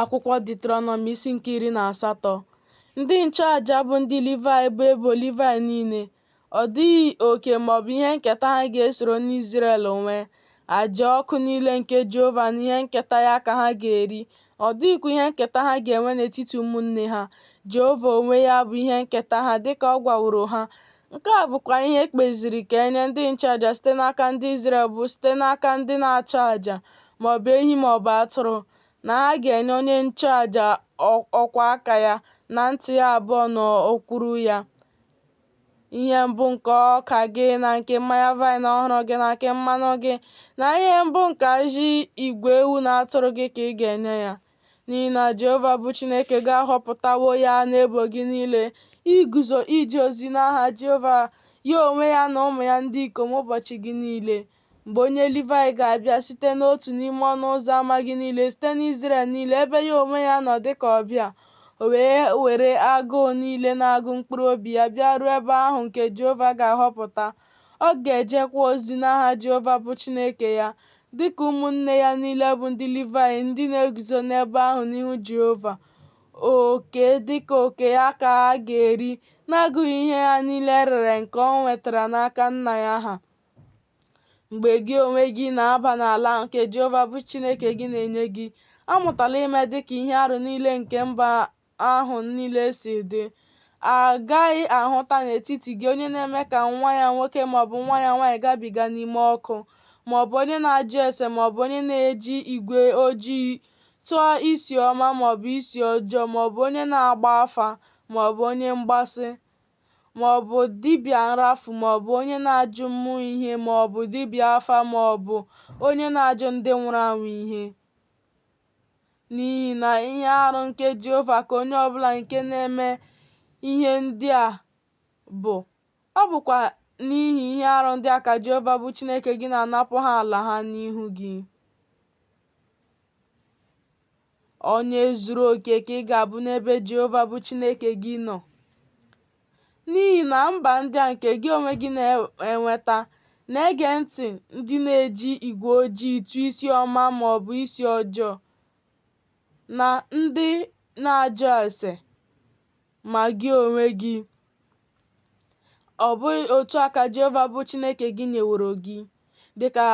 Akwụkwọ Ditrọnọmị isi nke iri na asatọ Ndị nchụaja bụ ndị Livayị bụ ebo Livayị niile. Ọ dịghị oke ma ọ bụ ihe nketa ha ga-esoro n'Izrel nwee. Aja ọkụ niile nke Jehova na ihe nketa ya ka ha ga-eri. Ọ dịghịkwa ihe nketa ha ga-enwe n'etiti ụmụnne ha. Jehova onwe ya bụ ihe nketa ha dịka ọ gwaworo ha Nke a bụkwa ihe e kpeziri ka e nye ndị nchụaja site n'aka ndị Izrel bụ site n'aka ndị na-achụ aja ma ọ bụ ehi ma ọ bụ atụrụ na ha ga-enye onye nchụaja ọkwa aka ya na nti ya abụọ na okwuru ya ihe mbụ nke ọka gị na nke mmanya vaịn ọhụrụ gị na nke mmanụ gị na ihe mbụ nke ajị igwe ewu na atụrụ gị ka ị ga-enye ya n'ihi na Jehova bụ Chineke gị ahọpụtawo ya n'ebo gị niile iguzo ije ozi n'aha Jehova ya onwe ya na ụmụ ya ndị ikom ụbọchị gị niile mgbe onye Livaị ga-abịa site n'otu n'ime ọnụ ụzọ ama gị niile site n'Izrel niile ebe ya onwe ya nọ dị ka ọbịa o wee were agụụ niile na-agụ mkpụrụ obi ya bịa ruo ebe ahụ nke Jehova ga-ahọpụta ọ ga-ejekwa ozi n'aha Jehova bụ Chineke ya Dị ka ụmụnne ya niile bụ ndị Livaị ndị na-eguzo n'ebe ahụ n'ihu Jehova, oke dị ka oke ya ka ha ga-eri, n'agụghị ihe ya niile e rere nke o nwetara n'aka nna ya ha. Mgbe gị onwe gị na-aba n'ala nke Jehova bụ Chineke gị na-enye gị, amụtala ime dị ka ihe arụ niile nke mba ahụ niile si dị a gaghị ahụta n'etiti gị onye na-eme ka nwa ya nwoke maọbụ nwa ya nwaanyị gabiga n'ime ọkụ maọbụ onye na-ajụ ese maọbụ onye na-eji igwe ojii tụọ isi ọma maọbụ isi ọjọọ maọbụ onye na-agba afa maọbụ onye mgbasị maọbụ dibịa nrafu maọbụ onye na-ajụ mmụọ ihe maọbụ dibịa afa maọbụ onye na-ajụ ndị nwụrụ anwụ ihe N'ihi na ihe arụ nke Jehova ka onye ọ bụla nke na-eme ihe ndị a bụ. Ọ bụkwa n'ihi ihe arụ ndị a ka Jehova bụ Chineke gị na-anapụ ha ala ha n'ihu gị. Onye zuru oke ka ị ga-abụ n'ebe Jehova bụ Chineke gị nọ. n'ihi na mba ndị a nke gị onwe gị na-enweta na-ege ntị ndị na-eji igwe ojii tụọ isi ọma ma ọ bụ isi ọjọọ na ndị na-ajụ ese ma gị onwe gị ọ bụghị otu a ka Jehova bụ Chineke gị nyeworo gị dị ka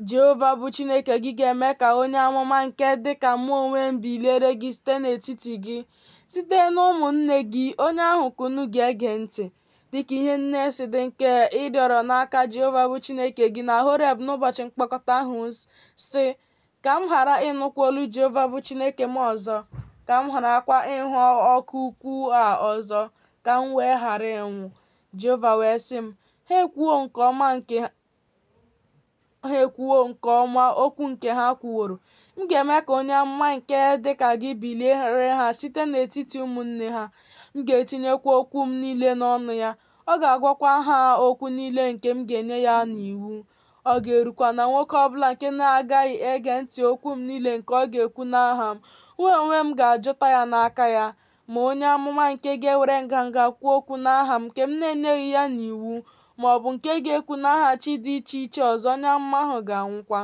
Jehova bụ Chineke gị ga-eme ka onye amụma nke dị ka mụ onwe m biliere gị site n'etiti gị, site n'ụmụnne gị, onye ahụ ka unu ga-ege ntị. Dị ka ihe niile si dị nke ị rịọrọ n'aka Jehova bụ Chineke gị na Horeb n'ụbọchị mkpọkọta ahụ, sị, Ka m ghara ịnụkwa olu Jehova bụ Chineke m ọzọ, ka m gharakwa ịhụ ọkụ ukwu a ọzọ, ka m wee ghara ịnwụ. Jehova wee sị m, Ha ekwuwo nke ọma nke ha ekwuwo nke ọma okwu nke ha kwuworo m ga-eme ka onye amụma nke dị ka gị biliere ha site n'etiti ụmụnne ha m ga-etinyekwa okwu m niile n'ọnụ ya ọ ga-agwakwa ha okwu niile nke m ga-enye ya n'iwu ọ ga-erukwa na nwoke ọbụla nke na-agaghị ege ntị okwu m niile nke ọ ga-ekwu n'aha m mụ onwe m ga-ajụta ya n'aka ya Ma onye amụma nke ga-ewere nganga kwuo okwu n'aha m nke m na-enyeghị ya n'iwu, ma ọ bụ nke ga-ekwu n'aha chi dị iche iche ọzọ, onye amụma ahụ ga-anwụkwa.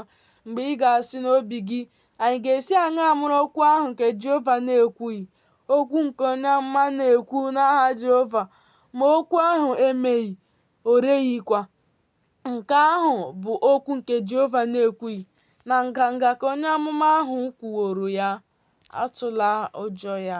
Mgbe ị ga-asị n'obi gị, Anyị ga-esi aṅaa mara okwu ahụ nke Jehova na-ekwughị, okwu nke onye amụma na-ekwu n'aha Jehova, ma okwu ahụ emeghị, o reghịkwa? Nke ahụ bụ okwu nke Jehova na-ekwughị na nganga ka onye amụma ahụ kwuworo ya, atụla ụjọ ya.